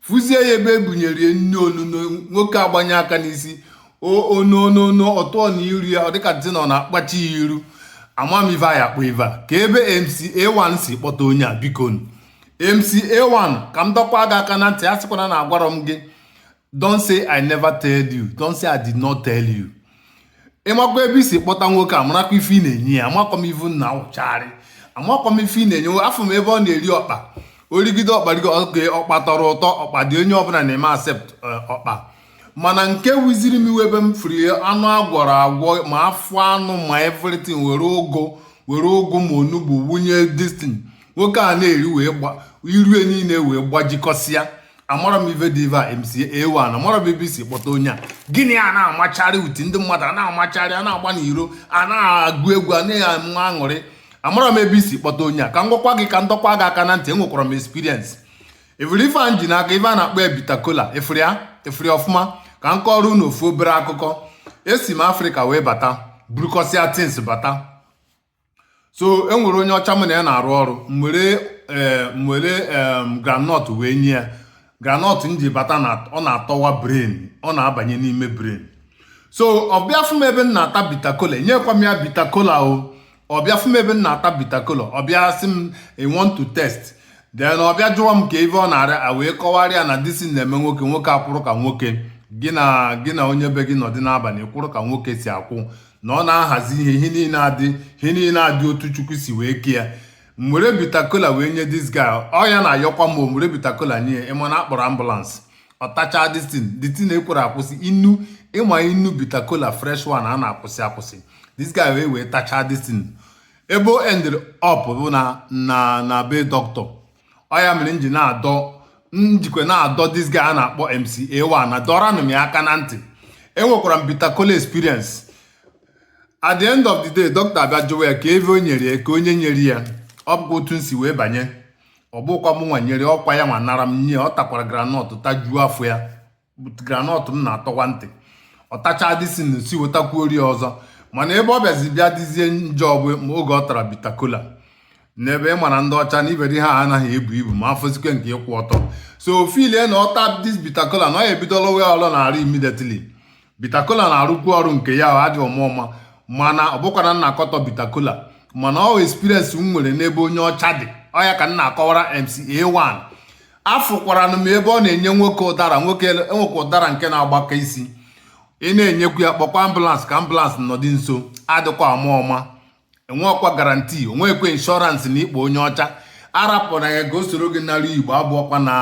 fụzie ya ebe ebunyere nni onuno nwoke agbanye aka n'isi onuno ọ tụọ n'iru ya ọ dịka dị na ọ na-akpachi ya iru ama m ive a ya-akpọ ive a ka ebe mca1 si kpọta onye a biko mca1 ka m dọkwa gị aka na ntị asịkwana na agwarọ m gị don't say i never tell you don't say i did not tell you ị makwa ebe i si kpọta nwoke a marakwa ife ị na-enye ya amakwa m ive ị na-achọgharị amakwa m ife ị na-enye afụ m ebe ọ na-eri ọkpa o rigide ọkpa rigo oge ọkpa tọrọ ụtọ ọkpa dị onye ọbụla na-eme accept eh, ọkpa mana nke wuziri m iwe ebe m fụrụ ya anụ agwọrọ agwọ ma afọ anụ ma everything were ụgụ were ụgụ ma onugbu wunye this thing nwoke a na-eri wee gba iru ya niile wee gbajikọsịa amarọ m ive bụ ive a mca a1 amara m ebe isi kpọta onye a gị na ya na-amacharị uti ndị mmadụ a na-amacharị a na-agba n'iro a na-agụ egwu a na-enwe aṅụrị amarọ m ebe i si kpọta onye a ka m gwakwa gị ka m dọkwa gị aka na ntị enwekwara m experience ị fụrụ ife m ji n'aka ife a na-akpọ bitakola ị fụrụ ya ị fụrụ ọfụma ka m kọọrọ unu ofu obere akụkọ esi m afrịka wee bata burukọsịa things bata so e nwere onye ọcha m na ya na-arụ ọrụ m were eh, m were groundnut wee nye ya groundnut m ji bata na ọ na-atọwa brain ọ na-abanye n'ime brain so ọ bịa fụ m ebe m na-ata bitakola enyekwa m ya bitakola o ọ bịa fụ m ebe m na-ata bitakola ọ bịa sị m i want to taste then ọ bịa jụwa m ka ive ọ na-arụ m wee kọwara ya na this thing na-eme nwoke nwoke akwụrụ ka nwoke gị na gị na onye be gị nọdị n'abalị kwụrụ ka nwoke si akwụ na ọ na-ahazi ihe ihe niile adị ihe niile adị otu chukwu si wee ke ya m were bitakola wee nye this guy ọ ya na-ayọkwa m o m were bitakola nye ya ị ma na a kpọrọ ambulance ọ tachaa this thing the thing ekwerọ akwụsị inu ị ma inu bitakola fresh one anaa akwụsị akwụsị this guy wee wee tachaa this thing ebe o ended up bụ na na na be doctor ọ ya mere m ji na-adọ m jikwa na-adọ this guy a na-akpọ MCA1 na dọranụ m ya aka na ntị enwekwara m bitter cola experience at the end of the day dọkịta abịa jụwa ya ka ive e nyere ya ka onye nyere ya ọ bụkwa otu m si wee banye ọ bụkwa mụ nwa nyere ọ kwa ya nwa nara m nye ya ọ takwara granọt tajuo afọ ya granọt m na-atọwa ntị ọ tachaa this thing sị wetakwuoro ya ọzọ mana ebe ọ bịazi bịa dịzie njọ bụ oge ọ tara bitakola n'ebe ị mara ndị ọcha na iberi ha anaghị ebu ibu ma afọzikwa nke ịkwụ ọtọ so ọ feel-ie na ọ taa this bitakola na ọ ya-ebido lụwa ọrụ n'arụ immediately bitakola na-arụkwu ọrụ nke ya ọ adịghị ọma ọma mana ọ bụkwarọ na m na-akọtọ bitakola mana ọ experience m nwere n'ebe onye ọcha dị ọ ya ka m na-akọwara MCA1 afụkwaranụ m ebe ọ na-enye nwoke ụdara nwoke enwekwa ụdara nke na-agbaka isi ị na-enyekwu ya kpọkwa ambulance ka ambulance nọdụ nso adịkwa ama ama enweọkwa guarantee onwekwa insurance na ịkpọ onye ọcha arapụ na ya ka o soro gị nara igbo abụọkwa na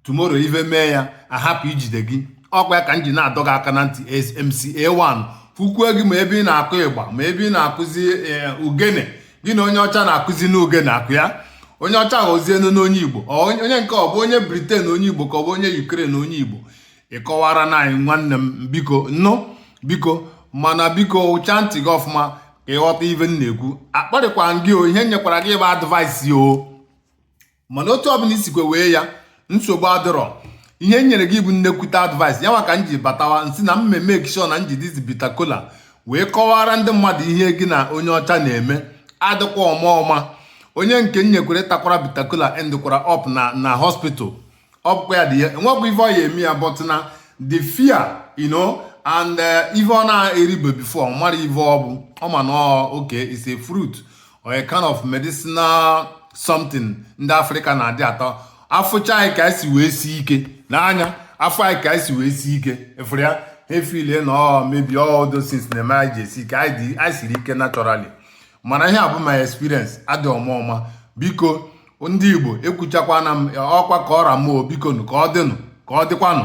tomorrow ive mee ya ahapụ ijide gị ọkwa ya ka m ji na-adọ gị aka na ntị SMCA1 fụkwuo gị ma ebe ị na-akụ ịgba ma ebe ị na-akụzi eh, ogene gị na onye ọcha na-akụzinụ ogene akụ ya onye ọcha aghọzienụ onye igbo onye nke ọ bụ onye britain onye igbo ka ọ bụ onye ukraine onye igbo ị kọwaranụ anyị nwanne m biko nnụ biko mana biko hichaa ntị gị ọfụma ka ị ghọta ive m na-ekwu akparịkwa m gị o ihe m nyekwara gị bụ advice o mana otu ọbụla i sikwa wee ya nsogbu adịrọ ihe m nyere gị bụ nnekwute advice ya maka m ji batawa m sị na m me make sure na m ji this bitter kola wee kọwara ndị mmadụ ihe gị na onye ọcha na-eme adịkwa ama ama onye nke m nyekwara takwara bitter kola endikwara up na na hospital ọ bụkwa ya dị ya enwekwa ife ọ ya eme ya but na the fear you know and eh, ife ọ na-eribe before ọ mara ife ọ bụ ọ ma na ọ okay is a fruit a kind of medicinal something ndị afrịka na-adị ata a fụcha anyị ka esi wee si ike n'anya a fụ anyị ka esi wee si ike ị fụrụ ya efeel na maybe all those things na-eme anyị ji esi ike anyị siri ike naturally mana ihe a bụ my experience adị ama ama biko ndị igbo ekwuchakwana m ọkwa ka ọ ra m oo bikonu ka ọ dịnụ ka ọ dịkwanụ